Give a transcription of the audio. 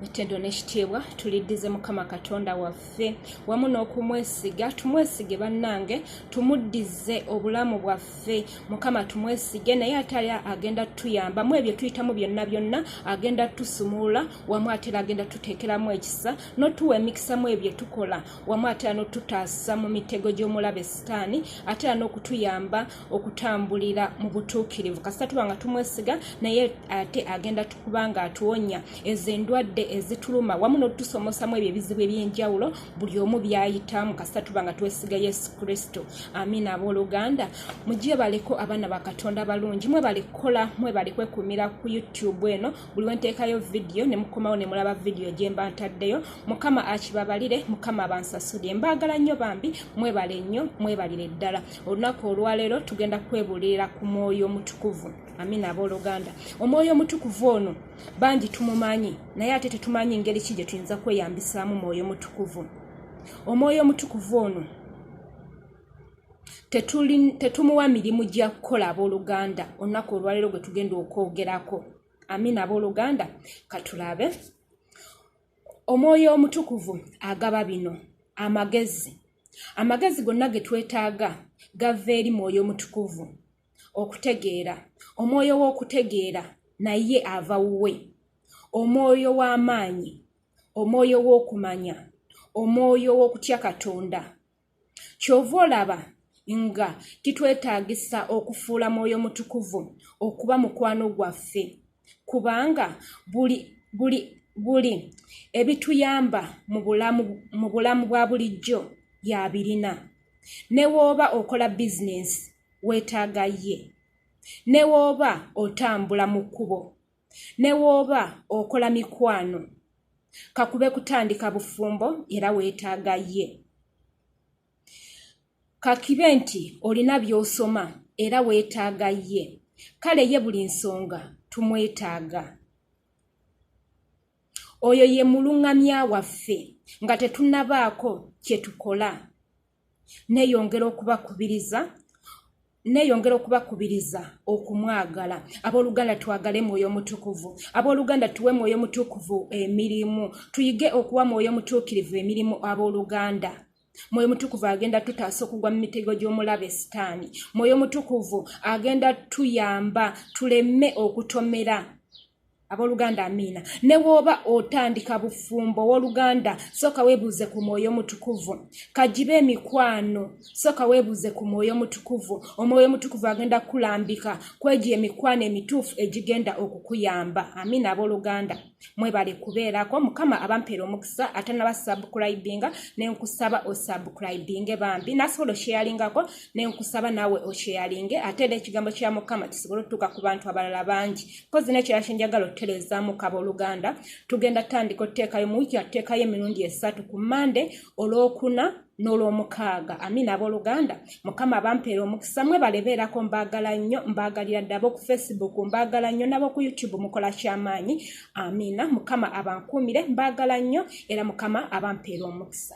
etedo nekitiibwa tuliddize mukama katonda waffe wamu n'okumwesiga tumwesige bannange tumuddize obulamu bwaffe mukama tumwesige naye ate ali agenda tuyamba mu ebyo tuyitamu byonna byonna agenda tusumulula wamu atera agenda tuteekeramu ekisa notuwa emikisa mu ebyo tukola wamu atera notutaasa mu mitego gy'omulabe sitaani atera n'okutuyamba okutambulira mu butuukirivu kasita tuba nga tumwesiga naye ate agenda tukuba nga atuwonya ezo endwadde ezituluma wamu n'otutusomosamu ebyo ebizibu eby'enjawulo buli omu byayitamu kasita tuba nga twesiga yesu kristo amiina abooluganda mujje baleko abaana ba katonda abalungi mwe bali kukola mwe bali kwekumira ku youtube eno buli wenteekayo vidiyo ne mukomawo ne mulaba vidiyo gye mba ntaddeyo mukama akibabalire mukama abansasulire mbaagala nnyo bambi mwebale nnyo mwebalire ddala olunaku olwaleero tugenda kwebuulirira ku mwoyo omutukuvu amina abooluganda omwoyo omutukuvu ono bangi tumumanyi naye ate tetumanyi ngeri ki gye tuyinza kweyambisaamu mwoyo mutukuvu omwoyo omutukuvu ono tetumuwa mirimu gya kukola abooluganda olunaku olwaleero gwe tugenda okwogerako amina abooluganda katulabe omwoyo omutukuvu agaba bino amagezi amagezi gonna ge twetaaga gava eri mwoyo omutukuvu okutegeera omwoyo w'okutegeera naye ava wuwe omwoyo w'amaanyi omwoyo w'okumanya omwoyo w'okutya katonda kyova olaba nga kitwetaagisa okufuula mwoyo mutukuvu okuba mukwano gwaffe kubanga buli buli buli ebituyamba mu bulamu mu bulamu bwa bulijjo yabirina ne wooba okola bizinensi weetaaga ye ne wooba otambula mu kkubo ne wooba okola mikwano kakube kutandika bufumbo era weetaaga ye kakibe nti olina by'osoma era weetaaga ye kale ye buli nsonga tumwetaaga oyo ye muluŋŋamya waffe nga tetunabaako kye tukola neyongera okubakubiriza neyongera okubakubiriza okumwagala abooluganda twagale mwoyo mutukuvu abooluganda tuwe mwoyo mutukuvu emirimu tuyige okuwa mwoyo mutuukirivu emirimu abooluganda mwoyo mutukuvu agenda tutaasa okugwa mu mitego gy'omulabe sitaani mwoyo mutukuvu agenda tuyamba tuleme okutomera aboluganda amiina ne wooba otandika bufumbo owoluganda sooka weebuuze ku mwoyo omutukuvu kagibe emikwano sooka weebuuze ku mwoyo omutukuvu omwoyo omutukuvu agenda kukulambika kwegyo emikwano emituufu egigenda okukuyamba amiina aboluganda mwebale kubeerako mukama abampeera omukisa ate nabasabukulibinga nenkusaba osabukulibinge bambi nasobola okyeyalingako nenkusaba naawe okyeyalinge ate era ekigambo kya mukama kisobole otutuuka ku bantu abalala bangi kozi nekyo yakinjagala otutereezaamu kaba oluganda tugenda tutandika otuteekayo mu wiiki yatuteekayo emirundi esatu ku mande olwokuna n'olwomukaaga amina abooluganda mukama abampeera omukisa mwe balebeerako mbaagala nnyo mbaagalira ddaba oku facebook mbaagala nnyo nabo ku youtube mukola kyamaanyi amina mukama abankuumire mbaagala nnyo era mukama abampeera omukisa